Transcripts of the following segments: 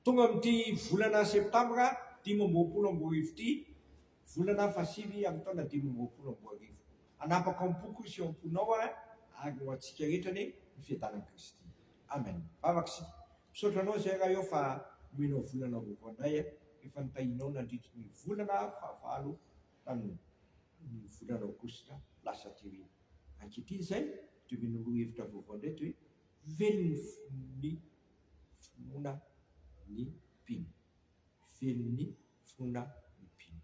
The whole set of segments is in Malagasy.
Tonga amin'ity volana septambra dimy amby roapolo amby roa arivo ity, volana fahasivy amin'ny taona dimy amby roapolo amby roa arivo. Hanapaka ao am-poko sy ao am-ponao aho ary ho antsika rehetra anie ny fiadanan'i Kristy. Amen. Vavaka isika. Misaotra Anao izay Ray ô fa nomenao volana vaovao anay rehefa nitahianao nandritry ny volana fahavalo tamin'ny volana aogositra lasa aty aoriana. Ankehitriny izay dia omena lohahevitra vaovao indray toy Velon'ny fon'ny finoana ny mpino. Velon'ny finoana ny mpino.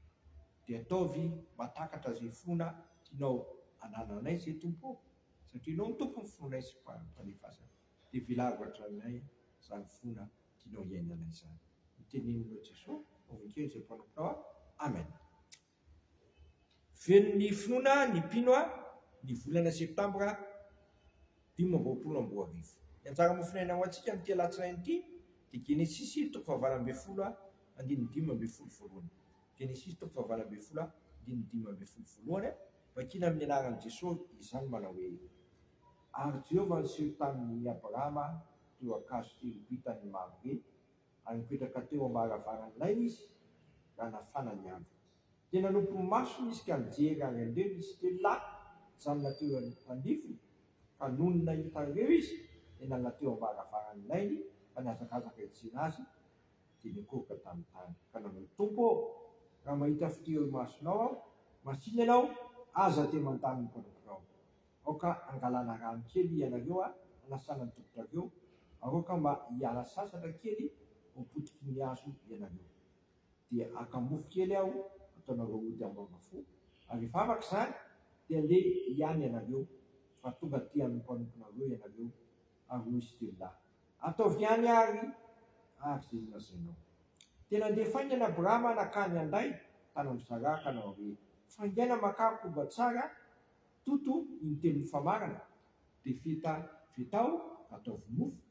Dia ataovy mahatakatra izay finoana tianao hanananay izay Tompo ô, satria Ianao no Tompon'ny finoanay sy Mpanefasanay. Dia velavo hatraminay izany finoana tianao hiainanay izany. Noteneninao Jesoa, Vovonkeo izay mpanomponao aho. Amen. Velon'ny finoana ny mpino ny volana septambra dimy amby roapolo amby roa arivo. Ny anjara mofonaina ho antsika amin'ity alatsinainy ity dia Genesisy toko fahavalo ambin'ny folo andininy dimy ambin'ny folo voalohany. Genesisy toko fahavalo ambin'ny folo andininy dimy ambin'ny folo voalohany. Vakina amin'ny anaran'i Jesosy izany manao hoe, Ary Jehovah niseho tamin'i Abrahama teo an-kazo telo boitan'ny mambre, ary nipetraka teo am-baravaran'ilay izy raha nafana ny andro. Dia nanopy ny masony izy ka nijery ary handreny izy telo lahy nijanona teo anivony, ka nony nahita an'ireo izy dia nalona teo am-baravaran'ilay ka nihazakazaka hijery azy dia nikoroka tamin'ny tany ka nanao, Tompo ô! raha mahita fito eo imasonao aho, masìna ianao, aza te mandany ny mpanomponao. Aoka hangalana rano kely ianareo a, hanasana ny tongotrareo, aoka mba hiala sasatra kely ao potiky ny hazo ianareo. Dia haka mofo kely aho hataonareo ody ambavafo, ary rehefa afaka izany, dia handeha ihany ianareo, fa tonga aty amin'ny mpanomponareo ianareo. Ary hoy Stella, Ataovy ihany àry àry izay nolazainao. Dia nandeha faingana Abrahama nankany Handay, tany amin'ny Saraha, ka nanao hoe, Faingaina makà koba tsara, Toto iny teny mifamarana, dia feta fetao ka ataovy mofo,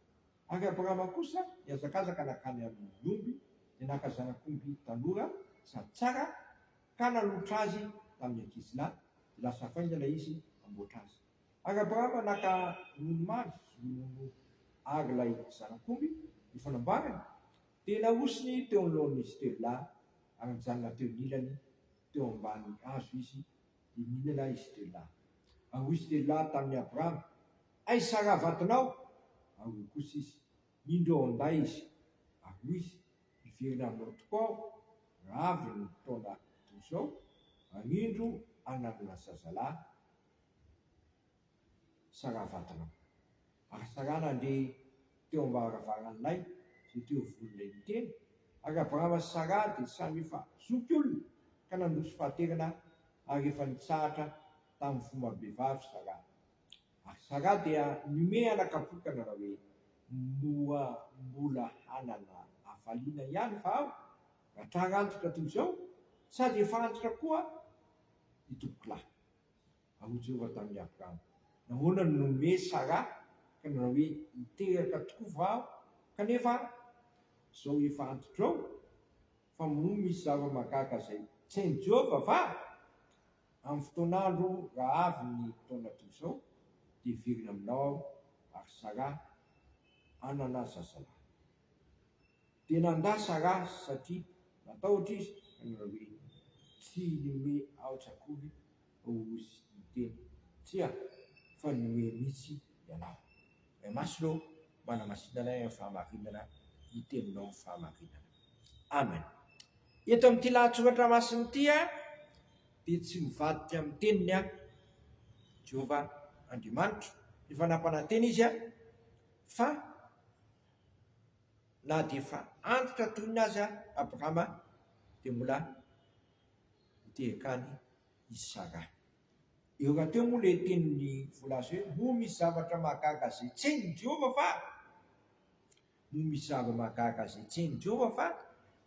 ary Abrahama kosa nihazakazaka nankany amin'ny omby, dia naka zanak'omby tanora sady tsara ka nanolotra azy tamin'ny ankizilahy, dia lasa faingana izy hamboatra azy. Ary Abrahama naka ronono mamy sy ronono ary ilay zanak'omby efa namboariny, dia nahosony teo anoloan'izy telo lahy, ary nijanona teo anilany teo ambany hazo izy dia mihinana ahy i Stella. Ary hoy Stella tamin'i Abraham, Aiza ra vatonao? Ary hoy kosa izy, Indro ao an-day izy. Ary hoy izy, Hiverina aminao tokoa aho raha avy ny taona toy izao, ary indro, hananana zazalahy. Saravatanao. Ary Sara nandeha teo am-baravarany Lay sy teo ivony Lay niteny, ary Abrahama sy Sara dia samy efa zoky olona ka nandroso fahaterana ary efa nitsahatra tamin'ny fomba bevavy Sara. Ary Sara dia nimehy anakam-poka nanao hoe, Moa mbola hanana hafaliana ihany va aho raha tra-rantotra toy izao? Sady efa antitra koa aho, ry tompokolahy. Ary hoy Jehovah tamin'i Abrama, Nahoana no nome Saraha ka nilaza hoe, Hiteraka tokoa va aho, kanefa izao efa antitra eo? Fa moa misy zava-mahagaga izay tsy hain'i Jehovah va? Amin'ny fotoan'andro raha avy ny taona toy izao, dia hiverina aminao aho, ary Saraha hanana zazalahy. Dia nanda Saraha, satria natahotra izy, ka nilaza hoe, Tsy hinome aotra akory Ozy niteny. Tsia, fa ny hoe mitsy ianao. Ray Masina ô, manamasina anay amin'ny fahamarinana ny Teninao ny fahamarinana. Amen. Eto amin'ity lahatsoratra masina ity dia tsy mivadika amin'ny Teniny aho, Jehovah Andriamanitro, efa nampanantena Izy aho, fa na dia efa antitra toy ny azy aho, Abrahama, dia mbola Niteraka ahy i Sarah. Eo rahateo moa ilay tenin'i Voalaza hoe, Moa misy zavatra mahagaga izay tsy hain'i Jehovah va? Moa misy zavatra mahagaga izay tsy hain'i Jehovah va?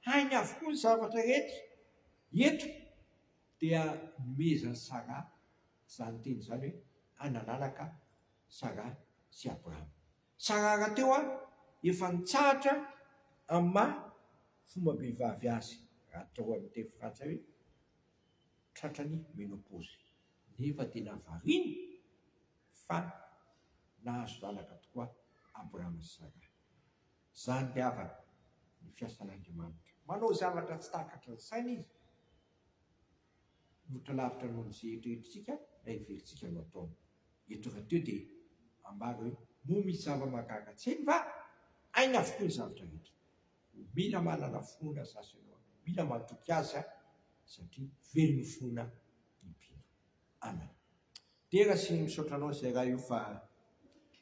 Hainy avokoa ny zavatra rehetra. Eto dia nomezan'i Sarah izany teny izany hoe, Analalaka Sarah sy Abrahama. Tsara rahateo a! Efa nitsahatra amin'ny maha fombam-behivavy azy rahateo any teny frantsay hoe tratrany menopause nefa tena variana fa nahazo zanaka tokoa Abraham sy Sarah. Zany ny havana, ny fiasan'Andriamanitra. Manao zavatra tsy takatry ny saina izy Mihoatra lavitra noho izay eritreretintsika na heverintsika no ataony. Eto rahateo dia ambara hoe, Moa misy zava-mahagaga tsy hainy va? Hainy avokoa ny zavatra rehetra. Koa mila manana finoana azy zaho sy ianao. Mila matoky azy satria velon'ny finoana ny mpino. Amen. Dera sy misaotra anao zay raha io fa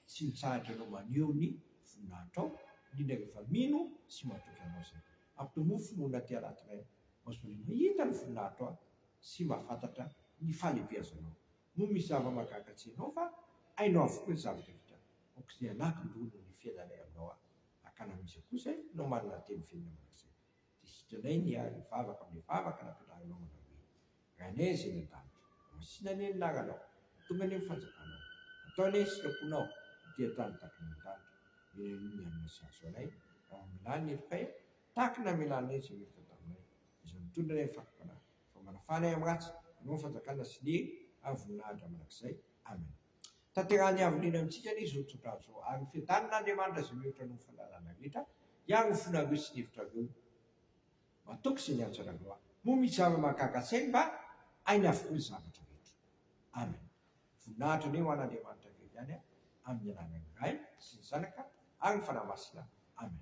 tsy mitsahatra anao maneho ny voninahitrao indrindra rehefa mino sy matoky anao zay. Ampy mofo no na tia raty rain maozole mahita ny voninahitro aho sy mahafantatra ny fahalebiazanao noho misy zava mahagaga tsy hainao fa hainao avokoa ny zava drehetra aokizay ananky ndroa noho ny fiainanay aminao aho akana miza koa zay no manana teny velona manakzay Dia sitranainy ny ahy mivavaka amin'ny vavaka nampianarinao manao hoe, Ranay izay any an-danitra, masina anie ny anaranao, tonga anie ny fanjakanao, atao anie ny sitraponao ety an-tany tahaka eny an-danitra, mila aloha ny hanina sahaza anay, raha mamelà ny helokay aho, tahaka ny namelà anay izay meloka taminay, izay mitondra anay amin'ny fanompoana ahy, fa manafana ahy amin'ny ratsy, hanao ny fanjakana sy ny hery ary voninahitra mandrakizay. Amena. Tanterahan'ny havonena amintsika anie izao tso-drano izao, ary hofiadanin'Andriamanitra izay mihoatra noho ny fahalalana rehetra, hiaro ny fonareo sy ny hevitrareo. Matoky izay niantso anareo aho. Moa misy zava-mahagaga sainy va? Hainy avokoa ny zavatra rehetra. Amen. Voninahitra anie ho an'Andriamanitra irery ihany, amin'ny anarany Ray sy ny Zanaka ary ny Fanahy Masina. Amen.